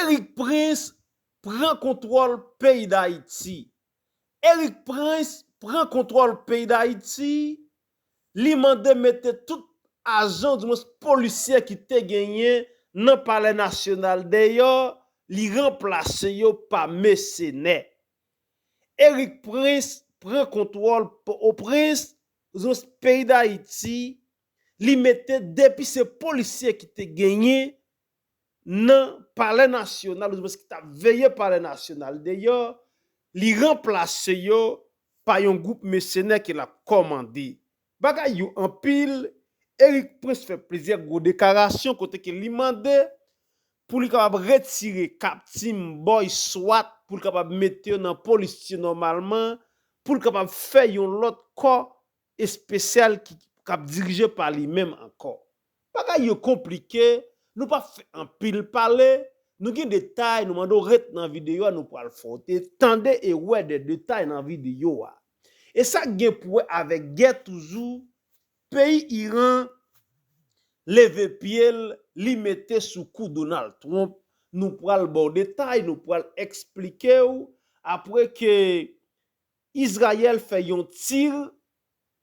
Erick prince pran kontrol peyi dayiti Erick prince pran kontrol peyi dayiti li mande mete tout ajan di mwens polisye ki te genyen nan palè nasyonal deyò li ranplase yo pa mesenè Erick prince pran kontrol po o prens di mwens peyi dayiti li mete depi se polisye ki te genyen nan palè nasyonal ouzmwens ki tap veye palè nasyonal deyò, li ranplase yo pa yon gwoup mesenè ke lap kòmande. Bagay yo anpil, Erik Prince fè plizyè gwo dekarasyon kote ke li mande pou li kapab retire kap Team Boy Swat pou l kapab mete yo nan polis ti nòmalman, pou l kapab fè yon lòt kò espesyal ki kap dirije pa li menm ankò. Bagay yo konplike, nou pap fè anpil pale, nou gen detay nou mande w ret nan videyo a nou pral fè w te tande e wè de detay nan videyo a. E sa gen pou wè avèk gè toujou, peyi Iran leve pye l li mete sou kou Donald Trump, nou pral ba w detay, nou pral eksplike w apre ke Izrayèl fè yon tir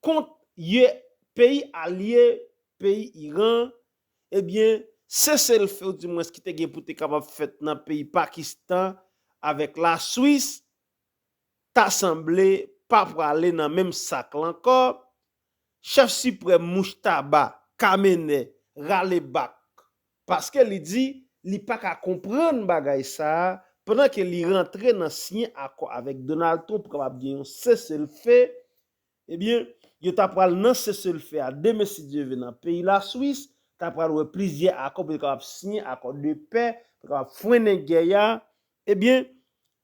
kont ye peyi alye peyi Iran ebyen sese l few di mwens ki te gen pou te kapab fèt nan peyi Pakistan avèk la Swis ta sanble pa prale nan menm sak la ankò Chèf Siprèm Mujtaba Khamenei rale bak paske li di li pa ka konprann bagay sa a pandan ke li rantre nan siyen akò avèk Donald Trump kap ap gen yon seselfe, ebyen yo ta pral nan seselfe a demen si Dye ve nan peyi Laswis, ta pral wè plizyè akò pou yo kapab siyen akò de pè pou yo kapab frennen gè a Ebyen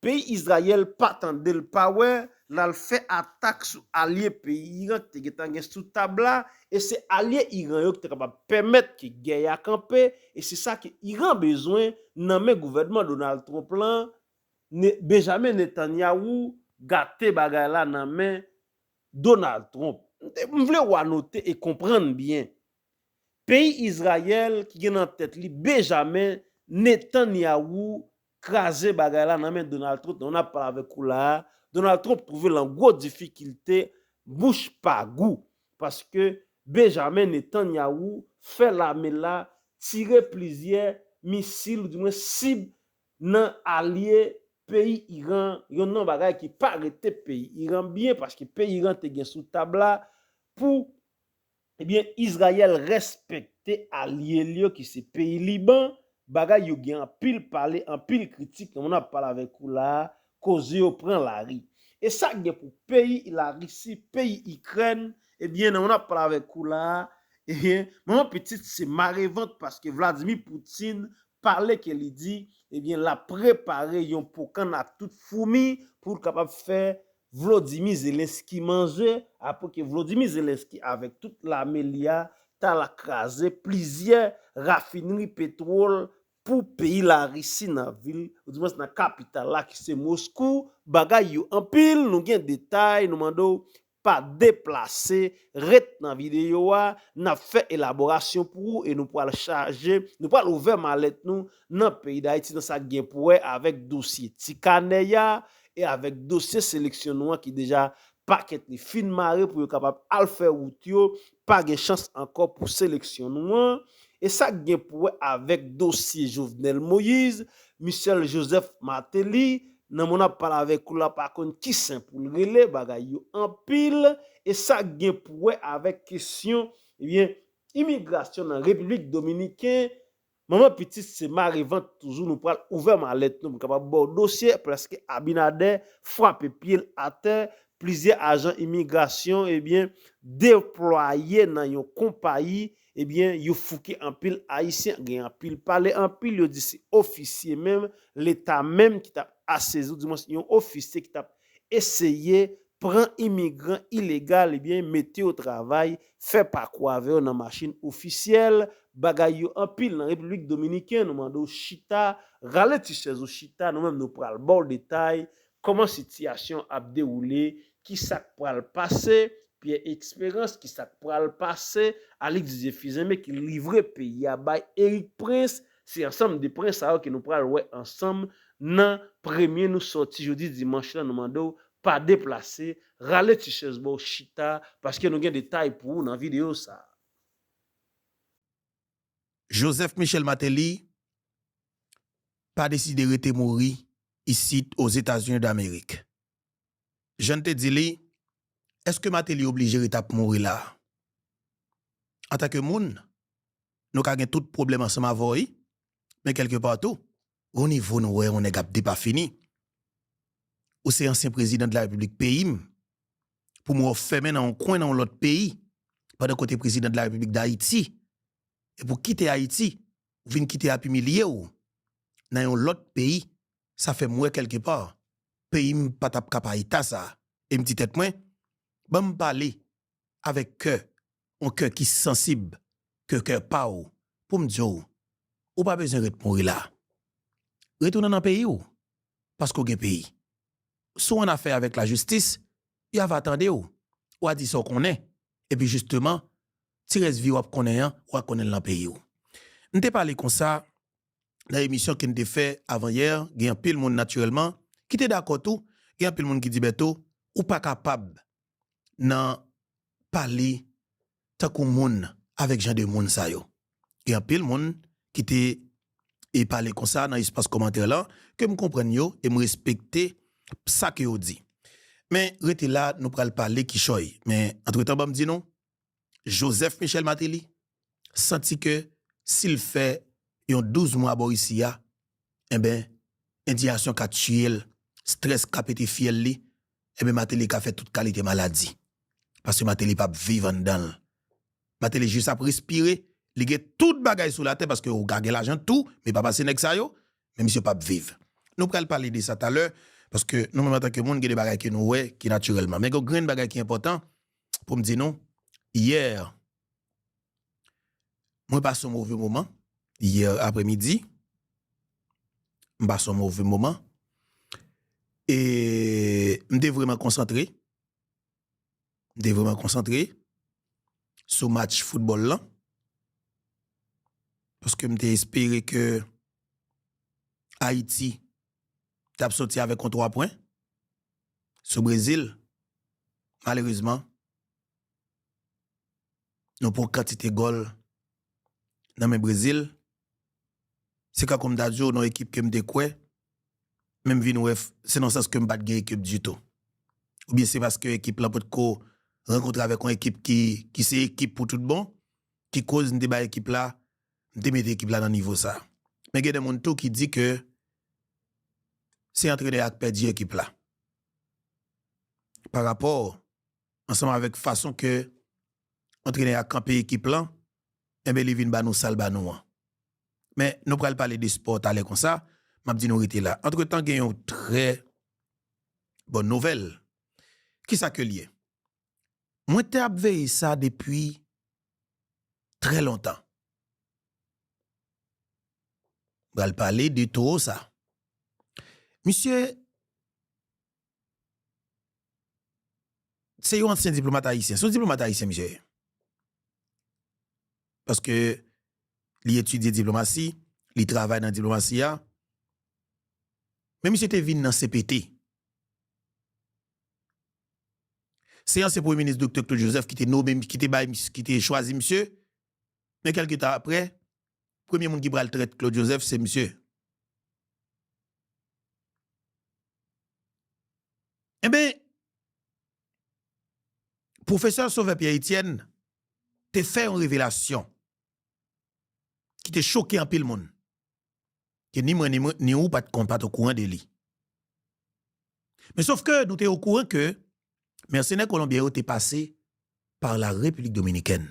peyi Izrayèl pa tande l pa wè l al fè atak sou alye peyi Iran ki te gentan gen sou tab la e se alye Iran yo ki ta kapab pèmèt ke gè a kanpe e se sa ke Iran bezwen nan men gouvènman Donald Trump lan Benjamin Netanyahu gate bagay la nan men Donald Trump. M vle ou anote e konprann byen Peyi Izrayèl ki gen nan tèt li Bejamen Netanyawou kraze bagay la nan men Donald Trump nan ap pale avèk ou la a, Donald Trump twouve l an gwo difikilte bouch pa gou paske Bejamen Netanyawou fè lame la tire plizyè misil ou di mwen sib nan alye peyi Iran yon nan bagay ki pa rete peyi Iran byen paske peyi Iran te gen sou tab la pou Ebyen Izrayèl respekte alye l yo ki se peyi Liban, bagay yo gen anpil pale anpil kritik nan moman ap pale avèk ou la a, koze yo pran lari. E sa gen pou peyi Larisi, peyi Ikrèn, ebyen nan moman ap pale avèk ou la a, ebyen manman pitit se mare vant paske Vladimir Putin pale ke li di ebyen lap prepare yon pokan na tout foumi pou l kapab fè Vlodimir Zelensky manze apre ke Vlodimir Zelensky avèk tout lame li a ta la kraze plizyè rafinri petwol pou peyi Larisi nan vil ou di mwens nan kapital la ki se Moskou bagay yo anpil nou gen detay nou mande w pa deplase ret nan videyo a nap fè elaborasyon pou ou e nou pwal chaje nou pwal ouvè malèt nou nan peyi Dayiti nan sak gen pou wè avèk dosye ti kanè ya e avèk dosye seleksyon nou an ki deja pakèt li fin mare pou yo kapab al fè wout yo, pa gen chans ankò pou seleksyon nou an, e sa k gen pou wè avèk dosye Jovenel Moïse, Michel Joseph Martelly, nan mwen ap pale avèk ou la pa konn ki sen pou l rele, bagay yo anpil, e sa k gen pou wè avèk kesyon, ebyen, imigrasyon nan Repiblik Dominiken, Manman pitit se mare vant toujou nou pral ouvè malèt nou m kapab baw dosye preske Abinader frape pyel atè plizyè ajan imigrasyon ebyen deplwaye nan yon konpayi ebyen yo fouke anpil ayisyen gen anpil pale anpil yo di se ofisye menm leta menm ki tap asezi ou dimwens yon ofisye ki tap Eseye pran imigran ilegal ebyen mete yo travay, fè pakou avè yo nan machin ofisyèl, bagay yo anpil nan Repiblik Dominiken, nou mande w chita, rale ti chèz ou chita, nou menm nou pral ba w detay kòman sitiyasyon ap dewoule, ki sa k pral pase, Pierre Esperance ki sa k pral pase, Alix Zephyr Zeme ki livre peyi a bay Erik Prince, Se ansanm de pren sa yo ke nou pral wè ansanm nan premye nou sòti jodi dimanch lan nou mande w pa deplase, rale ti chèz ba w chita paske nou gen detay pou ou nan videyo sa. Joseph Michel Martelly pa deside rete mouri isit Ozetazini Damerik. Jan n te di li, èske Martelly oblije rete ap mouri la? Antanke moun, nou ka gen tout pwoblèm ansanm avè w wi, men kèlke pa tou, gon nivo nou wè yon nèg ap depafini. Ou se ansyen prezidan de la repiblik peyi m, pou m wè w fèmen nan yon kwen nan yon lòt peyi, pandan ke w te prezidan de la repiblik dayiti, epi w kite ayiti, ou vin kite ap imilye w nan yon lòt peyi, sa fè m wè kèlke pa, peyi m pa t ap ka pa eta sa. E m di tèt mwen, ban m pale avèk kè On kè ki sansib ke kè pa w pou m di w, ou pa bezwen ret mouri la. Retounen nan peyi w, paske w gen peyi. Si w annafè avèk lajistis, y ava tande w, w a di sa w konnen, epi jisteman, ti rès vi w ap konnen an, w a konnen l nan peyi w. M te pale konsa nan emisyon ke n te fè avanyè, gen anpil moun natirèlman ki te dakò tou, gen anpil moun ki di Bèto, ou pa kapab nan pale tankou moun avèk jan de moun sa yo. Gen anpil moun ki te e pale konsa nan espas kòmantè lan ke m konprann yo e m respekte sa ke yo di. Men rete la nou pral pale kichòy. Men antretan banm di nou Joseph Michel Martelly santi ke si l fè yon 12 mwa bò isi a, enben endiyasyon ka tiye l, strès ka pete fyèl li, enben Martelly ka fè tout kalite maladi. Paske Martelly pa p viv anndan l. Martelly jis ap respire, li gen tout bagay sou latè paske ou ka gen lajan tou, men pa pase nèg sa yo, men misye pa p viv. Nou pral pale de sa talè, paske nou menm antanke moun gen de bagay ke nou wè ki natirèlman. Men gen yon grenn bagay ki enpòtan, pou m di nou, yè, mwen pase yon move moman, yè apre midi, m pase yon move moman, e m te vreman konsantre, m te vreman konsantre, sou match foutbòl lan, paske m te espere ke Ayiti, t ap soti avèk yon 3 pwen sou Brezil, malerezman nou pran kantite gòl nan men Brezil. Se kankou m ta di w nan ekip ke m te kwè, men m vin wè se nan sans ke m pa t gen ekip ditou. Oubyen se paske ekip lan potko rankontre avèk yon ekip ki se ekip pou tout bon ki koz m te bay ekip la M te mete ekip la nan nivo sa. Men gen de moun tou ki di ke se antrenè a k pèdi ekip la. Pa rapò ansanm avèk fason ke antrenè a kanpe ekip lan, enben li vin ba nou sa l ba nou an. Men nou pral pale de spò talè konsa, m ap di nou rete la. Antretan gen yon trè bòn nouvèl. Kisa ke l ye? Mwen te ap veye sa depi trè lontan. M pral pale de towo sa. Misye se yon ansyen diplomat ayisyen. Se yon diplomat ayisyen misye ye. Paske li etidye diplomasi, li travay nan diplomasi a. Men misye te vin nan CPT. Se ansyen premye minis Doktè Claude Joseph ki te nome, ki te bay, ki te chwazi misye, men kèlke tan aprè, premye moun ki pral trèt Claude Joseph se misye. Enben, Pwofesè Sauveur Pierre Etienne te fè yon revelasyon ki te choke anpil moun. ke ni mwen ni ou pat kon pat okouran de li. Men sof ke nou te okouran ke mèsenè kolonbyen yo te pase pa la Repiblik Dominikèn.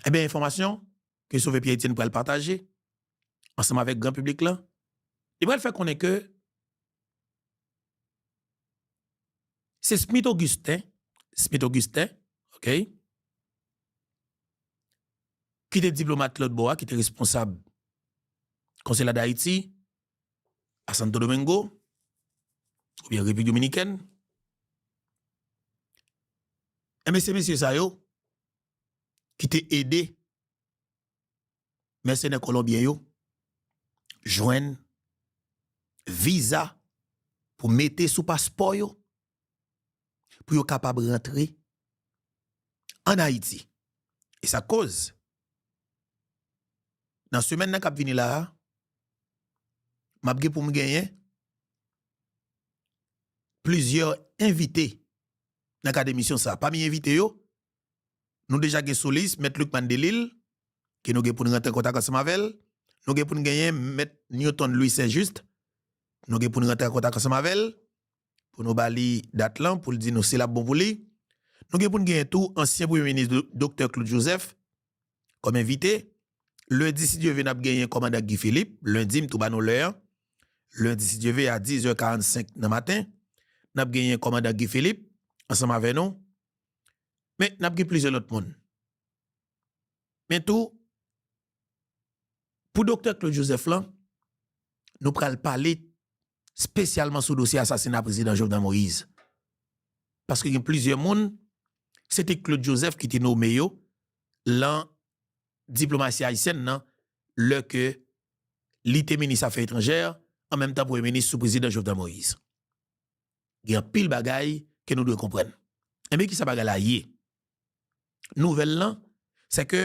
Enben enfòmasyon ke Sove Pyè Etyèn pral pataje ansanm avèk gran piblik lan, li pral fè konnen ke Se Smith Augustin, Smith Augustin, ok, ki te diplomat lòt bò a, ki te responsab konsela Dayiti a Santo Domingo, oubyen Repiblik Dominikèn. Enben se mesye sa yo ki te ede mèsenè kolonbyen yo jwenn viza pou mete sou paspò yo pou yo kapab rantre an Ayiti. E sa koz nan semèn nan kap vini la a map gen pou m genyen plizyè envite nan kad emisyon sa a. Pami envite yo Nou deja gen solis, Mèt Lucmane Delille, ke nou gen pou n rantre an kontak ansanm avè l. Nou gen pou n genyen Mèt Newton Louis Saint Juste, nou gen pou n rantre an kontak ansanm avè l, pou nou ba li dat lan, pou l di nou si l ap bon pou li. Nou gen pou n genyen tou ansyen Premye Minis Doktè Claude Joseph kòm envite. Lendi si Dye ve n ap genyen Kòmandan Guy Philippe, lendi m tou ba nou lè an, lendi si Dye ve a 10 è 45 nan maten, n ap genyen Kòmandan Guy Philippe ansanm avè nou. Men, n ap gen plizyè lòt moun. Men tou, pou doktè Claude Joseph lan, nou pral pale spesyalman sou dosye asasina Prezidan Jovenel Moïse. Paske gen plizyè moun, se te Claude Joseph ki te nome yo lan diplomasi ayisyèn nan, lè ke li te minis afè etranjè, an menm tan premye minis sou Prezidan Jovenel Moïse. gen anpil bagay ke nou dwe konprann. Enben kisa bagay la ye? Nouvèl lan, se ke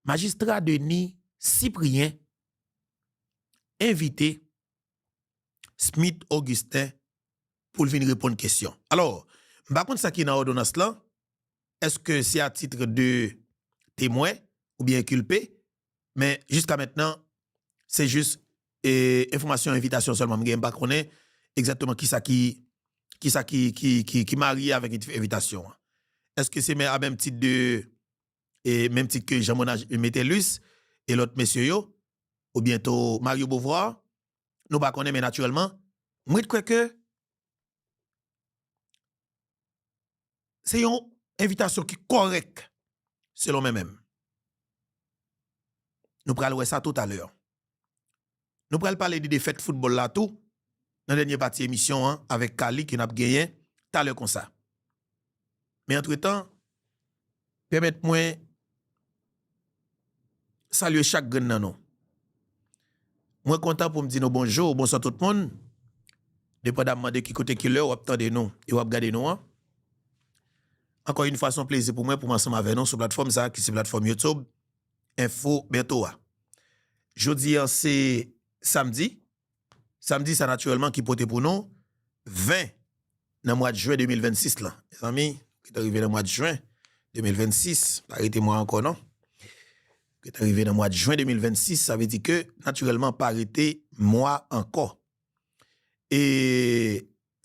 majistra Denis Cyprien envite Smith Augustin pou l vin reponn kesyon. Alò, m pa konn sa ki nan òdonans lan, eske se a titre de temwen oubyen enkulpe, Men jiska mentnan se jis enfòmasyon envitasyon sèlman m gen m pa konnen egzatteman kisa ki kisa ki ki marye avèk envitasyon an. Eske se men a menm tit de e menm tit ke Jean Monard Metellus e lòt mesye yo ou byento Mario Beauvoir nou pa konnen men natirèlman m ret kwè ke Se yon envitasyon ki kòrèk selon men menm. Nou pral wè sa tout alè. Nou pral pale de defèt foutbòl la tou nan dènye pati emisyon an avèk Carly ke n ap genyen talè konsa. Men antretan, pèmèt mwen salye chak grenn nan nou. Mwen kontan pou m di nou bonjou, bonswa tout moun, depandamman de ki kote, ki lè w ap tande nou e w ap gade nou an. Ankò yon fwa, s on plezi pou mwen pou m ansanm avè nou sou platfòm sa ki se platfòm YouTube Info Bertho a. Jodi an se samdi. Samdi sa natirèlman ki pote pou nou 20 nan mwad jwen 2026 lan. Mezanmi, gètan rive nan mwad jwen 2026, pa rete mwa ankò non. Gètan rive nan mwad jwen 2026, sa vle di ke natirèlman pa rete mwa ankò. E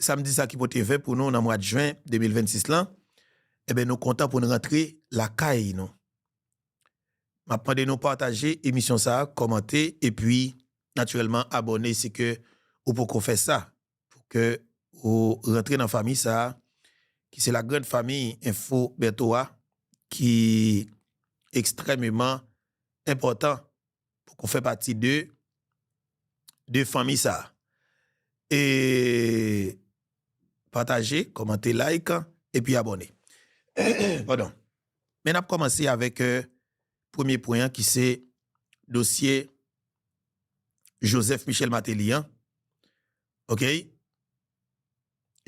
samdi sa ki pote 20 pou nou nan mwad jwen 2026 lan, e ben nou kontan pou nou rantre lakay nou. Map mande nou pataje emisyon sa kòmante epi natirèlman abòne si ke ou poko fè sa pou ke ou rantre nan fanmi sa ki se la grand fanmi enfo Bertho a ki ekstrèmeman enpòtan pou ke ou fè pati de de fanmi sa e pataje kòmante like epi abòne padon. Men nap kòmanse avèk premye pwen an ki se dosye Joseph Michel Martelly an ok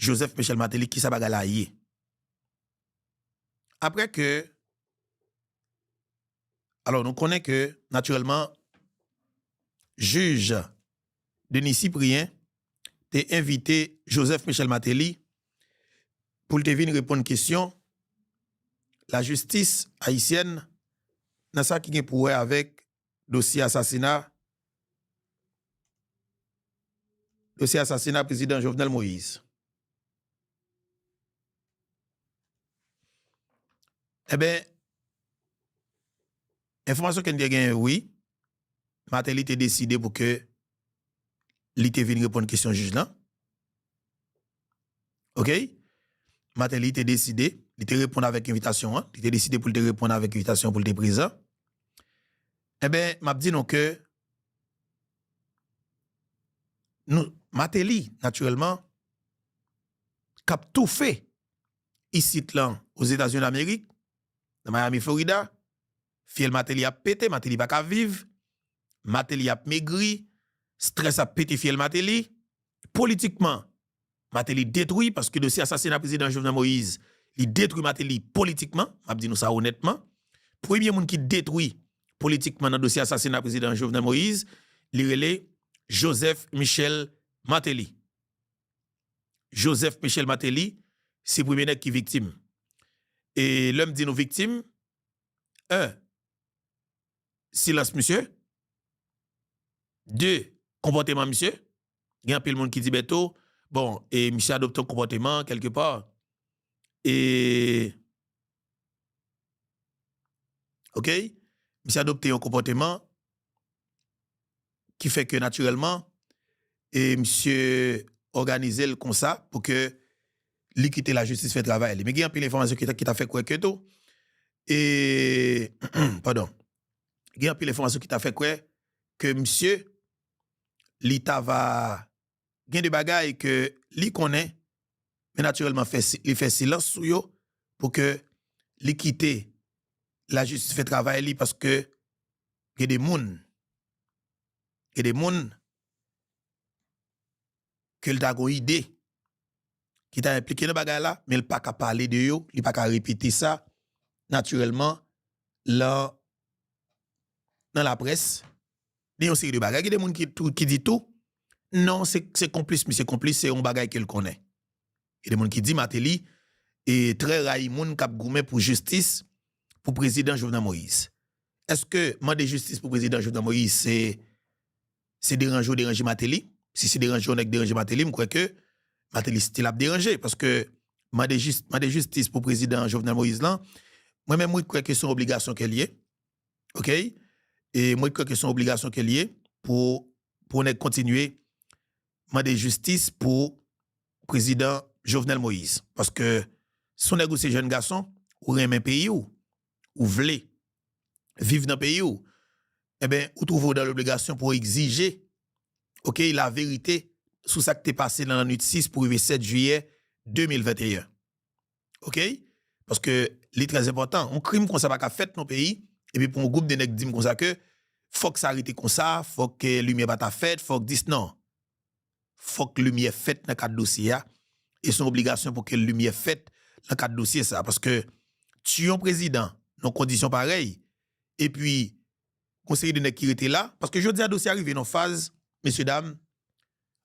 Joseph Michel Martelly kisa bagay la ye aprè ke alò nou konnen ke natirèlman jij Denis Cyprien te envite Joseph Michel Martelly pou l te vin reponn kesyon lajistis ayisyèn nan sa ki gen pou wè avèk dosye asasina dosye asasina prezidan Jovenel Moïse. Enben, enfòmasyon ke n te genyen wi, Martelly te deside pou ke li te vin reponn kesyon jij lan. Ok? Martelly te deside, li te reponn avèk envitasyon an, li te deside pou li te reponn avèk envitasyon pou li te prezan. Enben, m ap di nou ke Martelly, natirèlman, k ap toufe isit lan Ozetazini Damerik, nan Miami Florida, Fyèl Mateli ap pete, Mateli pa ka viv, Mateli ap megri, strès ap pete fyèl Mateli. Politikman, Mateli detwi paske dosye asasina Prezidan Jovenel Moïse, li detwi Mateli politikman, m ap di nou sa onètman. Premye moun ki detwi politikman nan dosye asasina Prezidan Jovenel Moïse, li rele Joseph Michel Martelly. Joseph Michel Martelly, se premye nèg ki viktim. E lè m di nou viktim, 1 silans misye 2 konpòteman misye gen anpil moun ki di Bertho bon e misye adopte yon konpòteman kèlke pa e ok misye adopte yon konpòteman ki fè ke natirèlman e misye òganize l konsa pou ke li kite lajistis fè travay li. Men gen anpil enfòmasyon ki ta fè kwè ke tou, padon, gen anpil enfòmasyon ki ta fè kwè ke misye li ta va gen de bagay ke li konnen men natirèlman li fè silans sou yo pou ke li kite lajistis fè travay li paske Gen de moun, gen de moun ke l ta gon ide ki ta enplike nan bagay la men l pa ka pale de yo, li pa ka repete sa natirèlman lan nan laprès ni yon seri de bagay. Gen de moun ki di tou non se konplis misye konplis se yon bagay ke l konnen. Gen de moun ki di Martelly trè rayi moun kap goumen pou jistis pou prezidan Jovenel Moïse. Eske mande jistis pou prezidan Jovenel Moïse se deranje ou deranje Martelly? Si se deranje yon nèg deranje Martelly m kwè ke Martelly stil ap deranje paske mande jistis pou prezidan Jovenel Moïse lan mwen menm mwen kwè ke son obligasyon ke li ye ok e mwen kwè ke son obligasyon ke li ye pou yon nèg kontinye mande jistis pou prezidan Jovenel Moïse paske son nèg ou se jèn gason ou renmen peyi w ou vle viv nan peyi w enben ou twouve w dan lobligasyon pou egzije ok la verite sou sak te pase nan lannwit 6 pou rive 7 jiyè 2021 ok paske li trè enpòtan yon krim konsa paka fèt nan yon peyi epi pou yon gwoup de nèg di m konsa ke fòk sa rete konsa fòk limyè pata fèt fòk dis nan. fòk limyè fèt nan kad dosye a, e son obligasyon pou ke limyè fèt nan kad dosye sa, paske tiye yon prezidan nan kondisyon parèy, epi yon seri de nèg ki rete la, paske jodi a dosye a rive nan yon faz, mesye dam,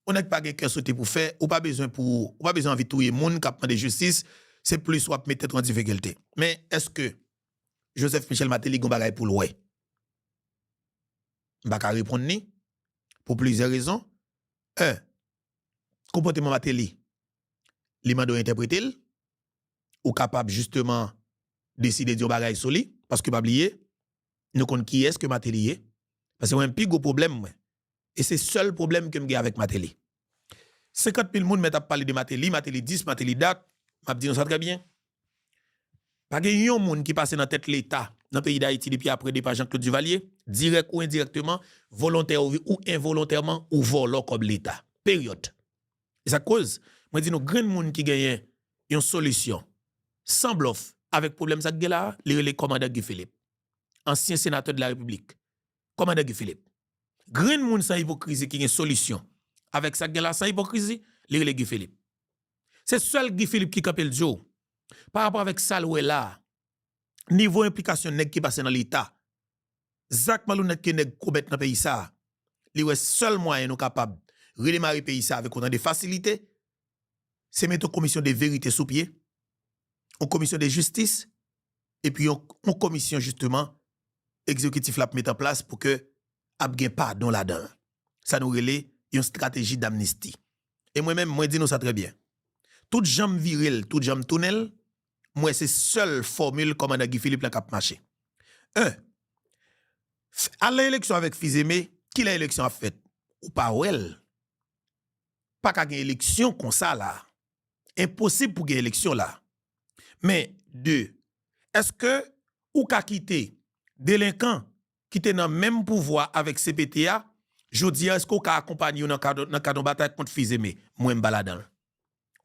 yon nèg pa gen kè sote pou fè, ou pa bezwen pou, ou pa bezwen anvi touye moun kap mande jistis, se plis wap met tèt ou an difikilte. Men, eske Joseph Michel Martelly gen yon bagay poul wè? M pa ka reponn ni, pou plizyè rezon, 1 konpòteman Mateli li mande w entèprete l, ou kapab jisteman deside di yon bagay sou li, paske pa bliye nou konn kiyès ke Mateli ye, paske mwen menm pi gwo pwoblèm mwen e se sèl pwoblèm ke m gen avèk Mateli. 50 mil moun mèt ap pale de Mateli, Mateli dis, Mateli dat, m ap di nou sa trè byen, pa gen yon moun ki pase nan tèt Leta nan peyi Dayiti depi apre depa Janklod Divalye, dirèk ou endirèkteman, volontè ou envolontèman, ou vòlò kòb Leta. Peryòd. E sa k koz, mwen di nou grenn moun ki genyen yon solisyon san blòf avèk pwoblèm sa k gen la a, li rele kòmandan Guy Philippe, ansyen senatè de la Repiblik, Kòmandan Guy Philippe. Grenn moun san ipokrizi ki gen solisyon avèk sa k gen la san ipokrizi, li rele Guy Philippe. Se sèl Guy Philippe ki kanpe l di w, parapò avèk sa l wè la a, nivo enplikasyon nèg ki pase nan Leta, zak malounèt ke nèg komèt nan peyi sa a, li wè sèl mwayen nou kapab redemare peyi sa a avèk otan de fasilite, se mete yon komisyon de verite sou pye, yon komisyon de jistis, epi yon yon komisyon jisteman egzekitif la ap met an plas pou ke ap gen padon ladan l, sa nou rele yon strateji damnisti. E mwen menm mwen di nou sa trè byen, tout jan m vire l, tout jan m tounen l, m wè se sèl fòmil kòmandan Guy Philippe lan k ap mache. 1, Al nan eleksyon avèk Fils-Aimé, kilè eleksyon ap fèt? Ou pa wè l, pa ka gen eleksyon konsa la a. enposib pou gen eleksyon la. Men, 2, èske ou ka kite delenkan ki te nan menm pouvwa avèk cpt a, jodi a èske ou ka akonpanye yo nan kad yon batay kont Fils-Aimé? Mwen m pa ladan l.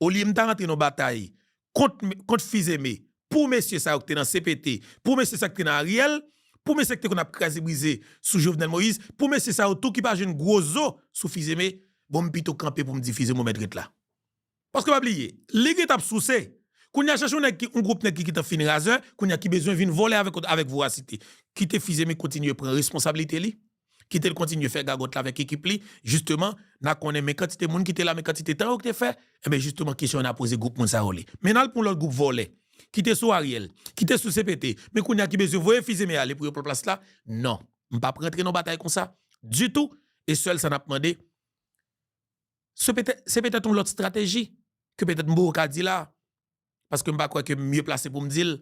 Olye m ta rantre nan yon batay kont Fils-Aimé, pou mesye sa yo ki te nan cpt, pou mesye sa yo ki te nan Ariel, pou mesye ki te konn ap kraze brize sou Jovenel Moïse, pou mesye sa yo tou ki pa jwenn gwo zo sou Fils-Aimé, bon m pito kanpe pou m di Fils-Aimé ou mèt ret la. Paske pa bliye li gentan ap souse kounya chèche yon nèg ki yon gwoup nèg ki gentan fin razè kounya ki bezwen vin vole avèk lòt avèk vorasite kite fizeme kontinye pran responsabilite li kitel kontinye fè gagòt la avèk ekip li jisteman na konnen men kantite moun kite la men kantite tan yo te fè enben jisteman kesyon na poze gwoup moun sa yo li men nal pou yon lòt gwoup vòlè kite sou Ariel kite sou CPT men kounya ki bezwen voye fizeme ale pou yo pran plas la non mpap rantre nan batay konsa ditou e sèl sa nap mande. Se petèt yon lòt strateji ke petèt m poko ka di la a, paske m pa kwè ke m mye plase pou m di l,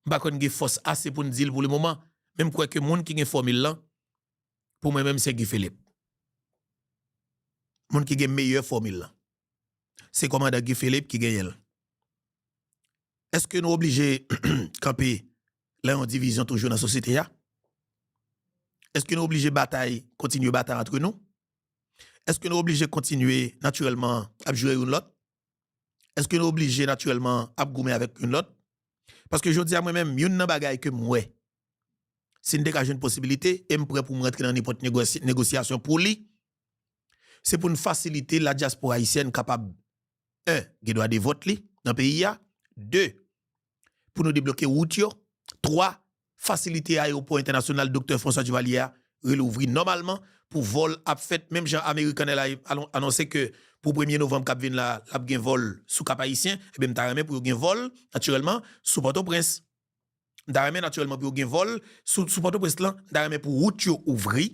m pa kwè n gen fòs ase pou n di l pou le moman, men m kwè ke moun ki gen fòmil lan, pou mwen menm se Guy Philippe. Moun ki gen meyè fòmil lan, se kòmandan Guy Philippe ki genyen l. Eske nou oblije kanpe lè yon divizyon toujou nan sosyete a? Eske nou oblije batay, kontinye batay antre nou? Èske nou oblije kontinye natirèlman ap jire youn lòt? Èske nou oblije natirèlman ap goumen avèk youn lòt? Paske jodi a mwen menm, youn nan bagay ke m wè, si n te ka jwenn posibilite, e m prè pou m rantre nan nenpòt negosyasyon pou li, se pou n fasilite ladyaspora ayisyèn kapab, 1 gen dwa de vòt li nan peyi a, 2 pou nou debloke wout yo, 3 fasilite ayewopò entènasyonal Doktè François Duvalier a relouvri nòmalman pou vòl ap fèt menm jan American Airlines anonse ke pou premye novanm kap vin la lap gen vòl sou Kap Ayisyen ebyen m ta renmen pou yo gen vòl natirèlman sou Pòtoprens m ta renmen natirèlman pou yo gen vòl sou Pòtoprens lan m ta renmen pou wout yo ouvri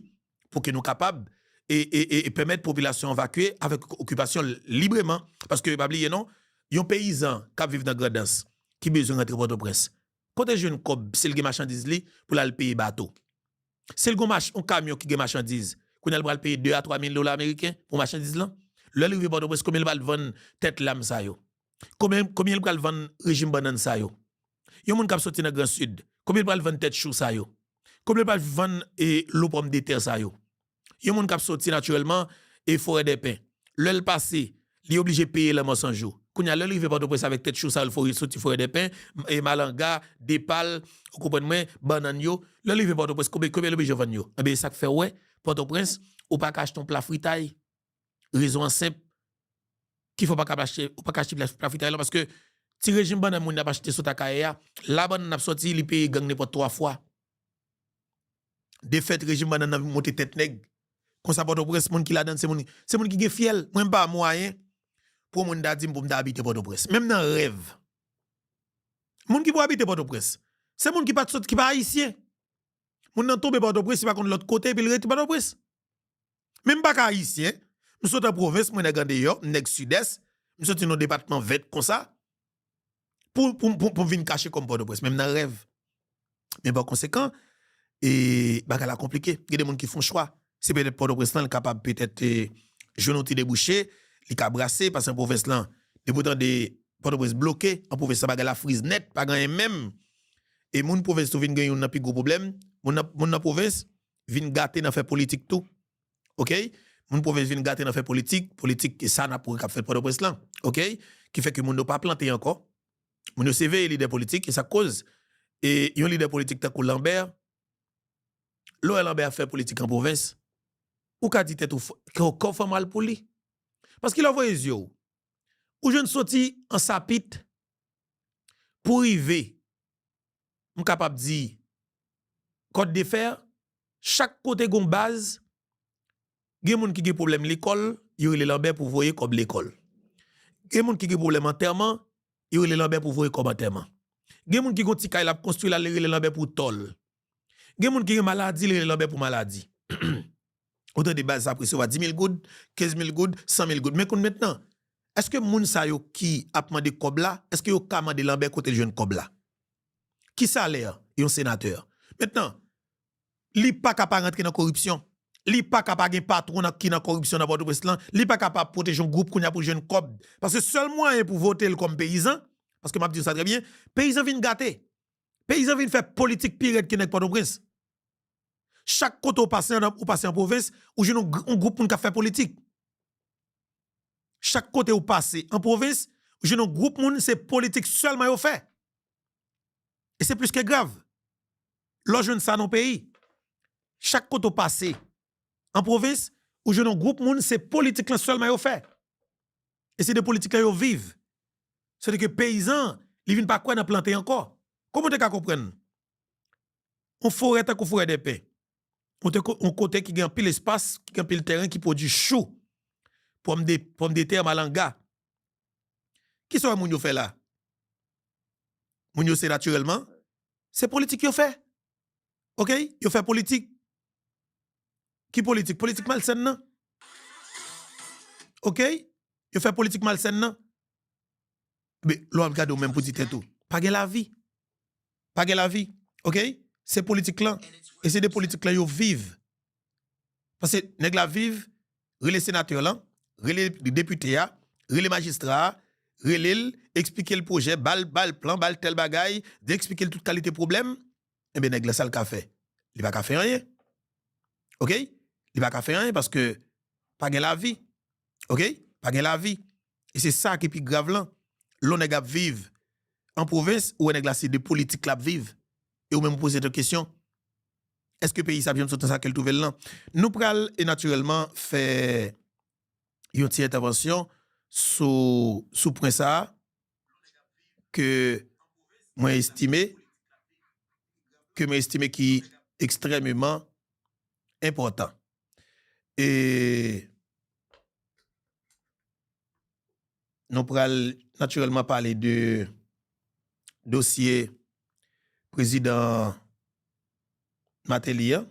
pou ke nou kapab e pèmèt popilasyon an vakye avèk okipasyon l libreman. Paske pa bliye non, yon peyizan k ap viv nan Grandans ki bezwen rantre Pòtoprens, kote l jwenn kòb si l gen machandiz li pou l al peye bato? Si l gen yon kamyon ki gen machandiz, kounye a l pral peye 2 a 3 mil dola ameriken pou machandiz lan? Lè l rive Pòtoprens, konbyen l pral vann tèt lam sa yo? Konbyen l pral vann rejim bannann sa yo? Yon moun kap soti nan gran sud konbyen li pral vann tèt chou sa yo konbyen li pral vann lo pòm de tè sa yo yon moun kap soti natirèlman e forè dè pen lèl pase li oblije peye lanmò san jou kounya lèl rive pòtoprens avèk tèt chou sa yo li soti forè dè pen e malanga depal ou konprann mwen bannann yo lèl rive pòtoprens konbyen li oblije vann yo ebyen esak fèw wè pòtoprens ou paka achte yon pla fritay Rezon an senp, ki fè w pa kab achte, ou pa ka achte plas pafritay lan paske ti rejim bannann moun nan ap achte sot Akayè a, la bannann nan ap sòti li peye gang nenpòt 3 fwa. De fèt rejim bannann nan monte tèt nèg. Konsa Pòtoprens moun ki ladan l se moun, se moun ki gen fyèl. Mwen m pa mwayen pou yon moun ta di m pou m ta abite Pòtoprens. Menm nan rèv. Moun ki pou abite Pòtoprens, se moun ki pa t sot, ki pa ayisyen. Moun nan tonbe Pòtoprens, li pa konn lòt kote epi l rete Pòtoprens. Men m pa ka Ayisyen, m sot an pwovens, mwen nèg andeyò, m nèg Sidès, m soti nan yon depatman vèt konsa, pou m vin kache kò m Pòtoprens, menm nan rèv. Men pa konsekan, e bagay la konplike. Gen de moun ki fon chwa, se petèt Pòtoprens lan li kapab petèt jwenn yon ti debouche, li ka brase, pase nan pwovens lan, depi w tande Pòtoprens bloke, nan pwovens lan bagay la friz nèt, pa gen anyen menm. E moun pwovens tou vin gen youn nan pi gwo pwoblèm, moun nan pwovens, vin gate nan fè politik tou ok moun pwovens vin gate nan fè politik politik ke sa nap wè kap fèt pòtoprens lan ok ki fè ke moun yo pa plante ankò moun yo se veye lidè politik e sak koz e yon lidè politik tankou Lambert lè w wè Lambert ap fè politik an pwovens ou ka di tèt ou kò w fè mal pou li paske lè w voye zye w ou jwenn soti Ansapit pou rive. m kapab di kòt de fè, chak kote gon baz gen moun ki gen pwoblèm lekòl yo rele lanbè pou voye kòb lekòl, gen moun ki gen pwoblèm antèman yo rele lanbè pou voye kòb antèman, gen moun ki gon ti kay lap konstwi la li rele lanbè pou tòl, gen moun ki gen maladi li rele lanbè pou maladi. Ou tande baz sa ap resevwa 10 mil goud, 15 mil goud, 100 mil goud. Men konn mentnan, eske moun sa yo ki ap mande kòb la, eske yo ka mande Lanbè kote l jwenn kòb la? Ki salè yon senatè? Mentnan, li pa ka pa rantre nan koripsyon, li pa ka pa gen patwon ki nan koripsyon nan Pòtoprens lan, li pa ka pa pwoteje yon gwoup kounya pou l jwenn kòb. Paske sèl mwayen pou vote l kòm peyizan, paske m ap di w sa trè byen, peyizan vin gate, peyizan vin fè politik pi rèd ke nèg Pòtoprens. Chak kote ou pase andan ou pase an pwovens ou jwenn yon gwoup moun kap fè politik. Chak kote ou pase an pwovens ou jwenn yon gwoup moun se politik sèlman yo fè. E se plis ke grav. Lè w jwenn sa nan yon peyi. Chak kote ou pase an pwovens ou jwenn yon gwoup moun se politik lan sèlman yo fè. E se de politik lan yo viv. Sètadi ke peyizan li vin pa kwè nan plante ankò. Kòman ou te ka konprann yon forè tankou forè dè pen, yon kote ki gen anpil espas, ki gen anpil tèren ki pwodui chou, pòmdetè, malanga. Kisa w wè moun yo fè la? Moun yo se natirèlman, se politik yo fè. Ok, yo fè politik. Ki politik? Politik malsèn nan. Ok, yo fè politik malsèn nan. Ebe, lè w ap gade ou menm pou di tèt ou, pa gen lavi. Pa gen lavi. Ok? Se politik lan. E se de politik lan yo viv. Pase nèg la viv, rele senatè lan, rele depite a, rele majistra a, rele l, eksplike l pwojè, ba l plan, ba l tèl bagay, di eksplike l tout kalite pwoblèm. Ebe nèg la sa l ka fè? Li pa ka fè anyen. Ok? Li pa ka fè anyen paske pa gen lavi. ok pa gen lavi e se sa ki pi grav lan lon nèg ap viv an pwovens ou wè nèg la se de politik lap viv e ou menm ou poze tèt ou kesyon èske peyi sa ap janm sot nan sa kel twouvel lan nou pral e natirèlman fè yon ti entèvansyon sou sou pwen sa ke mwen estime ke mwen estime ki ekstrèmeman enpòtan. Nou pral natirèlman pale de dosye prezidan Mateli an.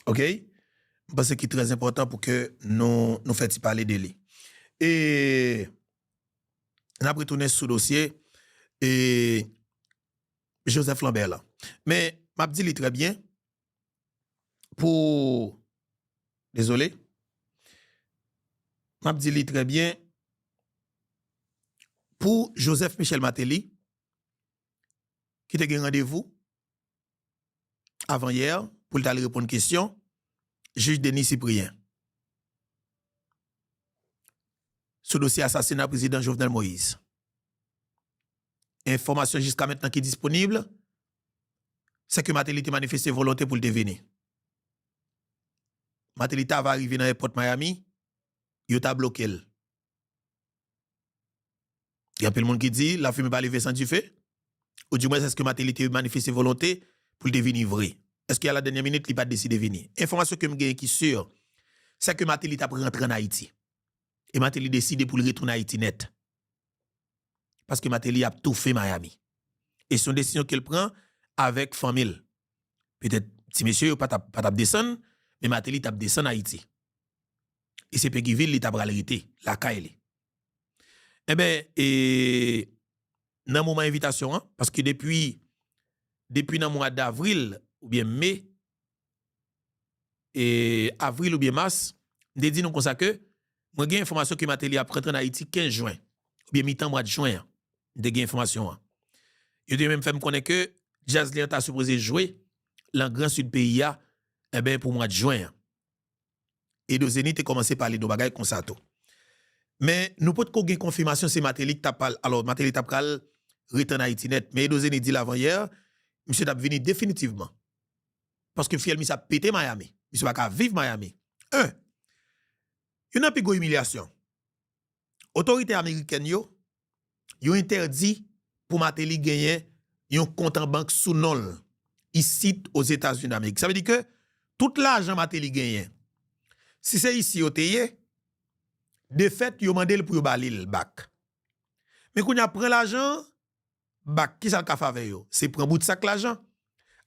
Ok, mwen panse ki trè enpòtan pou ke nou fè ti pale de li. E n ap retounen sou dosye Joseph Lambert lan. Men m ap di li trè byen. pou dezole map di li trè byen pou Joseph Michel Martelly ki te gen randevou avan yè pou l tal reponn kesyon jij Denis Cyprien sou dosye asasina prezidan Jovenel Moïse enfòmasyon jiska mentnan ki disponib sè ke Martelly te manifeste volonte pou l te vini. Martelly ta va rive nan èpòt Miami, yo ta bloke l. Gen anpil moun ki di, la fumée pa leve san dife, ou di mwens èske Martelly te manifeste volonte pou l te vini vre? Èske a la dènyè minit li pa deside vini? Enfòmasyon ke m genyen ki sur, sè ke Martelly t ap rantre an Ayiti. E Martelly deside pou l retounen Ayiti nèt. Paske Mateli ap toufe Miami. E se yon desizyon ke l pran avèk fanmi l. Petèt ti mesye yo pa t ap desann, men Mateli t ap desann Ayiti. E se Peguivil li ta pral rete, lakay li. Enben, e nan moman envitasyon an, paske depi nan mwa davril oubyen me, avril oubyen mas, m te di nou konsa ke mwen gen enfòmasyon ke Mateli ap rantre an Ayiti 15 jwen, oubyen mitan mwad jwen an, m te gen enfòmasyon an. Yo te menm fè m konnen ke djaz li an ta sipoze jwe lan gran sid peyi a, enben pou mwad jwen an. Edozeni te kòmanse pale de yon bagay konsa tou. Men nou pot ko gen konfimasyon se Mateli ki ta pral, alò Mateli ta pral ret an Ayiti nèt. Men Edozeni di l avan yè, misye tap vini definitivman. Paske fyèl misye ap pete Miami. Misye pa ka viv Miami. 1, Youn nan pi gwo imilyasyon, otorite amerikèn yo yo entèdi pou Mateli genyen yon kont an bank sou non l isit Ozetazini Damerik. Sa vle di ke tout lajan Mateli genyen, si se isi yo te ye, defèt yo mande l pou yo ba li l bak. Men kounye a pran lajan an, bak, kisa l ka fè avè yo? Se pran bout sak lajan,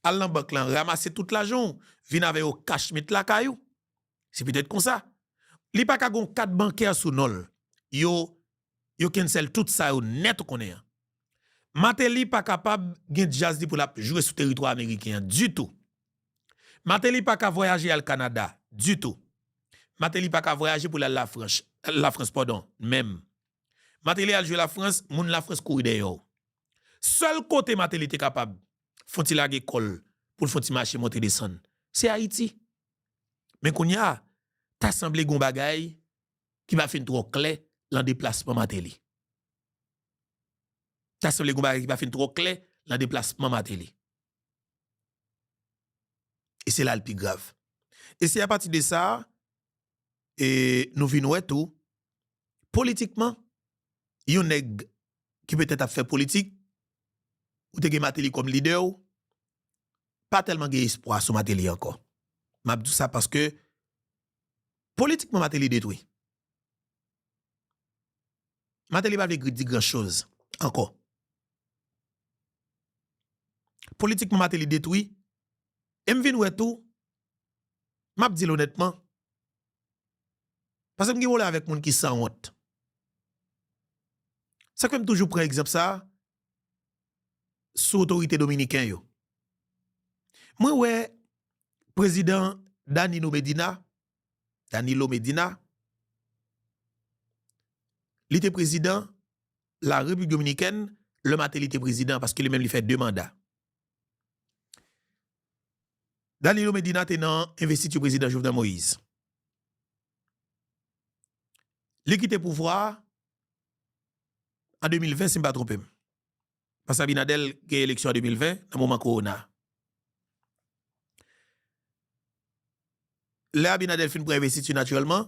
al nan bank lan, ramase tout lajan w, vin avè yo kach met lakay ou. Se petèt konsa. Li pa ka gen yon kat bankè sou non l. Yo yo cancel tout sa yo nèt ou konnen an. Martelly pa kapab gen djaz li pou lap jwe sou teritwa ameriken an ditou. Martelly pa ka vwayaje al Canada ditou. Martelly pa ka vwayaje pou lal lafranch, la France pardon, menm. Martelly al jwe la France, moun la France kouri dèyè w. Sèl kote Martelly te kapab fon ti lage kòl poul fon ti mache monte desann se Ayiti. Men kounya ta sanble gon bagay ki pa fin twò klè lan deplasman Martelly. Ta sanble gon bagay ki pa fin twò klè lan deplasman Martelly. E se la l pi grav. E se apati de sa a, nou vin wè tou, politikman, yon nèg ki petèt ap fè politik, ou te gen Martelly kòm lidè w, pa tèlman gen espwa sou Martelly ankò. M ap di w sa paske Politikman Mateli detwi. Mateli pa vle di gran choz anko. Politikman Mateli detwi. E m vin wè tou, m ap di l onètman, pase m gen pwoblèm avèk moun ki sanwont. Sa k fè m toujou pran egzanp sa a, sou otorite dominiken yo. Mwen wè prezidan Danino Medina, Danilo Medina, li te prezidan la Repiblik Dominikèn lè Mateli te prezidan paske li menm li fè 2 manda. Danilo Medina te nan envestiti prezidan Jovenel Moïse. Li kite pouvwa a an 2020 si m pa twonpe m. Pase Abinadèl gen eleksyon an 2020 nan moman kowona. Lè Abinadèl fin pran envestiti natirèlman,